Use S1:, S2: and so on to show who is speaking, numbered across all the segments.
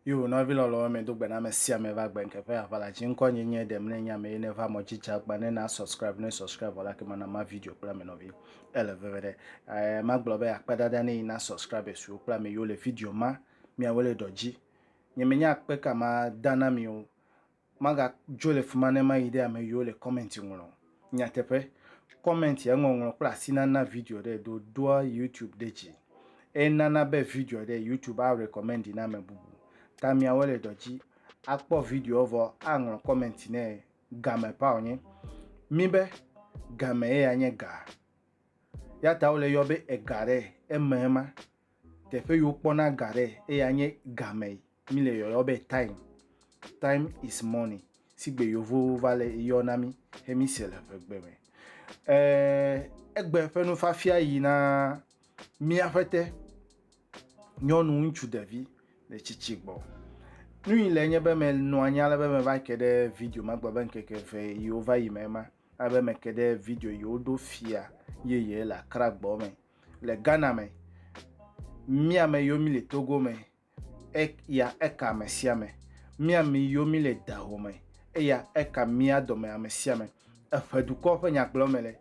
S1: Yo nɔvi lɔlɔ̃wo me do gbe na ame sia ame va gbɛn keƒe aʋala dzi ŋkɔ nye nye ɖem ne nya me ne va mɔ dzi dza gba ne na subscribe ne subscribe wala ke mana ma video kple ame nɔvi ele veve ɖe eh, ma gblɔ be akpe dada ne yi na subscribe suwo kple ame yiwo le video ma miawo le dɔ dzi nye menya akpe ka ma dana mi o Magadzo le fima ne mayi ɖe ame yiwo le comment ŋlɔ o. Nyateƒe, comment ya ŋɔŋlɔ kple asi nana video ɖe do doa YouTube ɖe dzi. Eye nana be video ɖe YouTube a recommend na ame bubu. Ta miawo le dɔ dzi akpɔ video vɔ aŋlɔ comment ne game pao nye mi be game ye ya nye ga. Ya ta wole yɔ be ega ɖe eme ma. Teƒe yiwo kpɔna ga ɖe eya nye game. Mi le yɔyɔ be time. Time is money. Si gbe yovowo va le yɔ na mi he mi se le ƒegbe me. Eh, egbe ƒe nufafia yi na mia ƒete nyɔnu ŋutsu ɖevi le tsitsi gbɔ. Nu yi le nye be me nɔ anyi ale be me va ke ɖe video ma gbɔ be ŋkeke eve yiwo va yi me ma. Ale be me ke ɖe video yi woɖo fia yeye le Accra gbɔ me. Le Ghana me, mía me yiwo mi le Togo me eya eka ame sia ame. Mía mi yo mi le dahoo me, eya eka mía dɔme ame sia ame. Eƒe dukɔ ƒe nyagblɔ me le.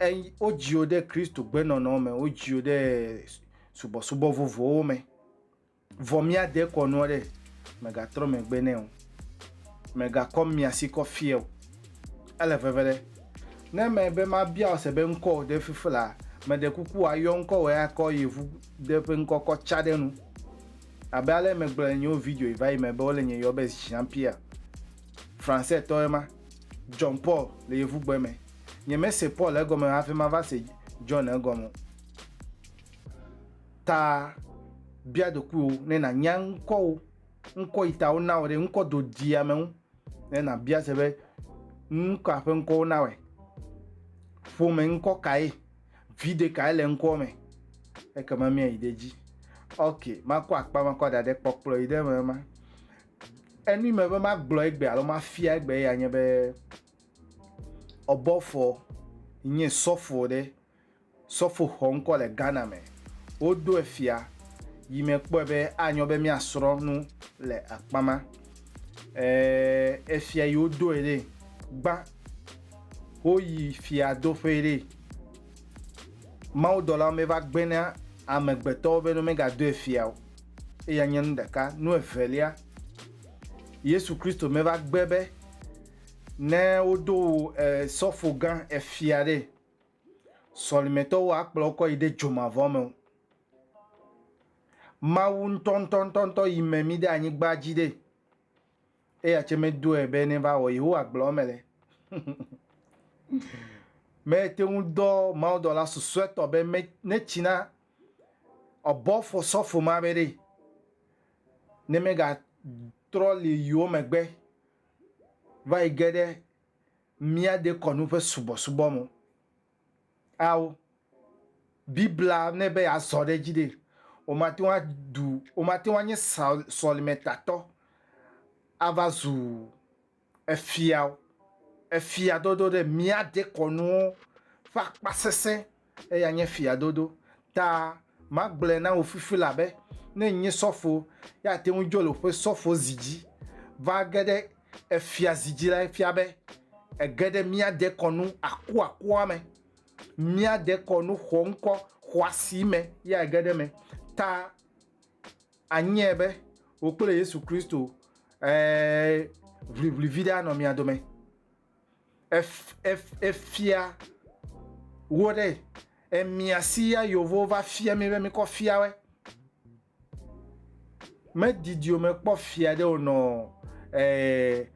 S1: Ey, wodziwo ɖe Kristo gbenɔnɔ me, wodziwo ɖe subɔsubɔ vovowo me. Vɔ mía de kɔ nua ɖe, mègatrɔ megbe nɛ o. Mègakɔ mia si kɔ fiɛ o. Ele veve ɖe. Ne mebe mabia ɔse be ŋkɔwò ɖe fifi la, meɖe kuku wòayɔ ŋkɔwòe akɔ yevu De ƒe ŋkɔkɔ tsa ɖe nu. Abe ale megblɔ le nyewo video yi va yi me be wole nye yɔ be Jean Pierre. Français tɔ ema. John Paul le yevu gbe me. Nye me se Paul egɔme hafi ma va se John egɔme o. Ta bia ɖokuiwo ne na nya ŋkɔwo, ŋkɔ yi ta wo na wo ɖe ŋkɔ do di ame ŋu ne na bia se be ŋkɔa ƒe ŋkɔwo na wɔe. Ƒome ŋkɔ kae? vi ɖekae le ŋkɔ me ekema míayi ɖe dzi ok makɔ akpa makɔ da ɖe kpɔkplɔ yi ɖe me ma enu me be magblɔ egbe alo mafia egbe ya nye be ɔbɔfɔ nye sɔfo ɖe sɔfo xɔ ŋkɔ le ghana me wodo efia yi me kpɔe be anyɔ be míasrɔ nu le akpa ma efia yi wodoe ɖe gbã woyi fiadoƒee ɖe, mawudɔla meva gbena amegbetɔwo be ne womegadoe fia o. Eya nye nu ɖeka. Nu evelia, Yesu Kristo meva gbe be ne wodo wò sɔfo gã efia ɖe, sɔlimetɔwo akplɔ wo kɔ yi ɖe dzomavɔ me o. Mawu ŋutɔŋutɔŋutɔ yi me mí ɖe anyigba dzi ɖe, Eya tse medɔe be neva wɔ Yehowa gblɔ eme le. Mete ŋu dɔ mawudɔla susɔetɔ be me ne tsi na ɔbɔ fɔ sɔfo ma be ɖe ne mega trɔ li yiwo megbe va yi ge ɖe mía dekɔnu ƒe subɔsubɔ mo. ao Biblia nɛ be yeazɔ ɖe edzi ɖe, wòmate ŋu aɖu, wòmate ŋu anye sɔlimetatɔ ava zu efia o. Efiadodo ɖe mía dekɔnuwo ƒe akpasesẽ ye anye efiadodo. ta magblɔe na wò fifi elabe ne nye sɔfo, ye ate ŋu dzo le woƒe sɔfozi dzi va ge ɖe efiazi dzi la, efia be ege ɖe mía dekɔnu akuakua me, mía dekɔnu xɔŋkɔ xɔasi me ye age ɖe eme. Ta anyae be wò kple Yesu Kristo, ɛ̃, ʋliʋli viɖe anɔ mia dome. efia wo ɖe emia si ya yovo va fia mi be mi kɔ fia we me didi o me kpɔ fia ɖe o nɔ eh,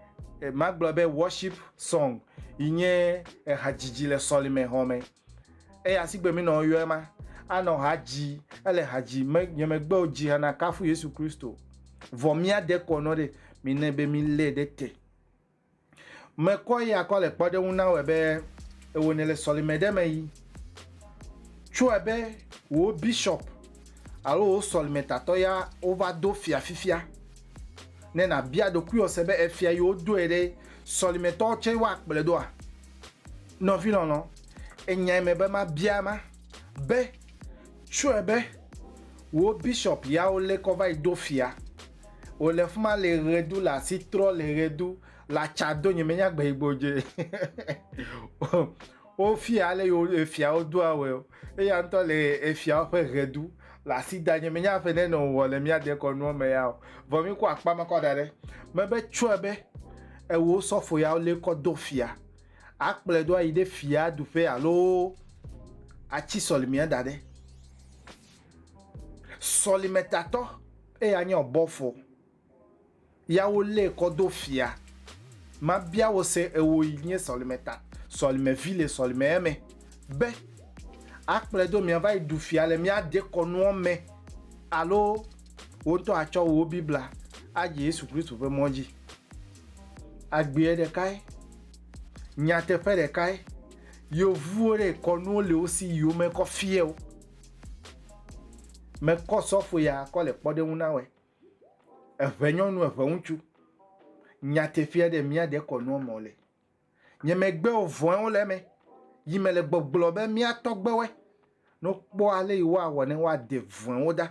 S1: eh ma gblɔ be worship song yi nye eha dzidzi le sɔlime hɔn me eye asigbe mi nɔ yɔe ma anɔ ha dzi ele ha dzi me nye me gbe o dzi hana kafu yesu kristo vɔ mia de kɔ nɔ ɖe mi ne be mi le ɖe te Mekɔ ya kɔ le kpɔɖeŋu na wɔ be ewo ne le sɔlime ɖe me yi. Tsɔe be wo bishop alo wo sɔlime tatɔ ya wo va do fia fifia. Ne na bia ɖokui wɔ se be efia yi wo doe ɖe sɔlime tɔ tse wa kple doa. Nɔvi lɔlɔ, enyai me be ma bia ma be tsɔe be wo bishop ya wo le kɔ va yi do fia. Wòle fuma le ɣedu le asi trɔ le ɣedu le atsa do nye menya gbe yigbo dze. Wofia ale yo efiawo do awɛ o. Eya ŋutɔ le efiawo ƒe ɣedu le asi da nye menya ƒe ne nɔ wɔ le mía dekɔ nua me ya o. Vɔ mi kɔ akpa ma kɔ da ɖe. Mebe tsɔe be ewo sɔfo yawo le kɔ do fia. Akplɔe do ayi ɖe fia duƒe alo atsi sɔlimea da ɖe. Sɔlimetatɔ. Eya nye ɔbɔfo, ya wo lée kɔ do fia. Ma bia wo se, ewo yi nye sɔlime ta, sɔlime vi le sɔlime eme, be a kplɔe do mia va yi ɖu fia le mia dekɔnuɔ me, alo wo ŋutɔ a tsɔ wo Bibla a dze Yesu Klisto ƒe mɔ dzi. Agbeɛ ɖekae, nyateƒe ɖekae, yovuwo ɖe kɔnuwo le wo si yi wo me kɔ fiɛ wo. Mekɔ sɔfo ya kɔ le kpɔɖeŋu na wɛ. Eʋe nyɔnu eʋe ŋutsu. Nyatefia ɖe mía ɖe kɔ nua mɔ le. Nye megbe ovɔe wo le eme. Yi me le gbɔgblɔ be mía tɔgbe wɛ. No kpɔ ale yi wa wɔ ne wa de vɔe wo da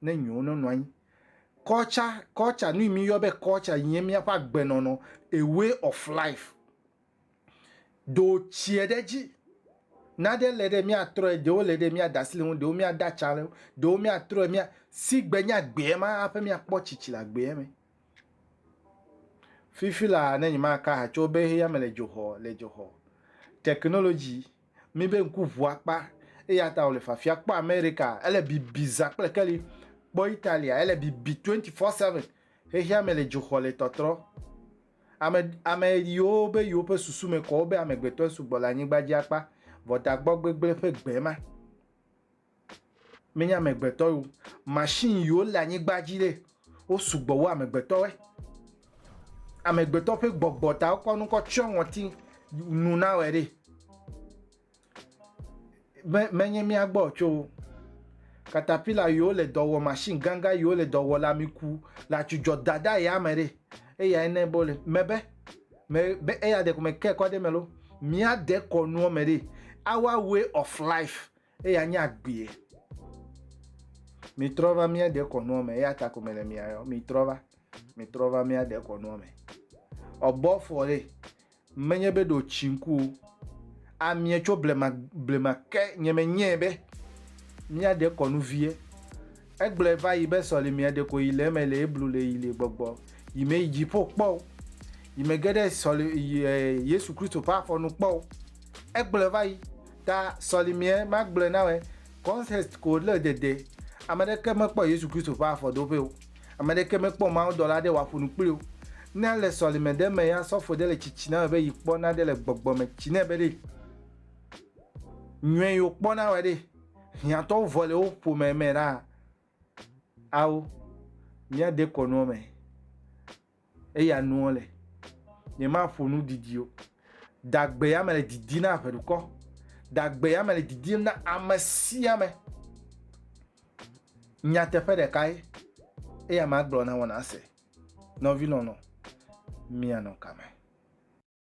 S1: ne nyo no nɔ anyi. Kɔtsa, kɔtsa, nu yi mi yɔ be kɔtsa yi nye mía ƒe agbe nɔnɔ, a way of life. do tsiɛ ɖe dzi. Naɖe le ɖe míatrɔe, ɖewo le ɖe míada asi le ŋu, ɖewo míada tsa le ŋu, ɖewo míatrɔe mía sigbe nye agbeɛ ma haƒe míakpɔ tsitsi le agbeɛ me. Fifi laa ne nyemaka ha tso be heya me le dzoxɔ le dzoxɔ. Technology mi be ŋku ʋu akpa eya ta wòle fafia. Kpɔ Amerika ele bibi zã kple keli. Kpɔ Italia ele bibi 24/7 xexea me le dzoxɔ le tɔtrɔ. Ame, ame ɣiwo be yewo ƒe susu me kɔ wo be amegbetɔe sugbɔ le anyigba dzi akpa vɔ da gbɔ gbegble ƒe gbe ma. Menye amegbetɔe o. Machine ɣiwo le anyigba dzi ɖe, wo sugbɔ wu amegbetɔe. Amegbetɔ ƒe gbɔgbɔ ta wokɔ nu kɔ tsɔ ŋɔti nu nawɔe ɖe. me, menye mía gbɔ tso katapila yiwo le dɔ wɔ machine ganga yiwo le dɔ wɔ le ami ku le atsudzɔ dada ya me ɖe eya ne bo le me be me be eya de ko me ke ko de me lo mia de ko nuo me ɖe our way of life eya nye agbee mi trɔ va mia de ko nuo me eya ta ko me le mia yo mi trɔ va mi trɔ va mia de ko nuo me ɔbɔ fɔ ɖe Menye be ɖo tsi ŋku o. Amie tso blema blema ke nye me nyee be mia ɖe kɔnu vie. Egblɔe va yi be sɔlimea ɖeko yi le eme le ye blu le yi le gbɔgbɔ yi me yi dziƒo kpɔ o. Yi me ge ɖe sɔli yi e Yesu Kristo ƒe afɔ nu kpɔ o. Egblɔe va yi ta sɔlimea magblɔe na wɛ context ko le dede. Ame ɖeke mekpɔ Yesu Kristo ƒe afɔ doƒe o. Ame ɖeke mekpɔ mawudɔla aɖe wòaƒo nu kpli o. Ne ale sɔleme ɖe eme ya, sɔfo ɖe le tsitsi na wòe be yi kpɔ naɖe le gbɔgbɔ me tsi nɛ be ɖe nyɔe yi wòkpɔ na wòe ɖe. Hiãtɔwo vɔ le wo ƒome me ɖaa. Ao, míade kɔ nuɔ me. Eya nuɔ le, nyema ƒo nu didi o. Dagbe ya me le didi na ʋeɖukɔ. Dagbe ya me le didi na ame sia me. Nyateƒe ɖeka ye, eya ma gblɔ na wɔna se. Nɔvi lɔlɔ, mia nɔ kame.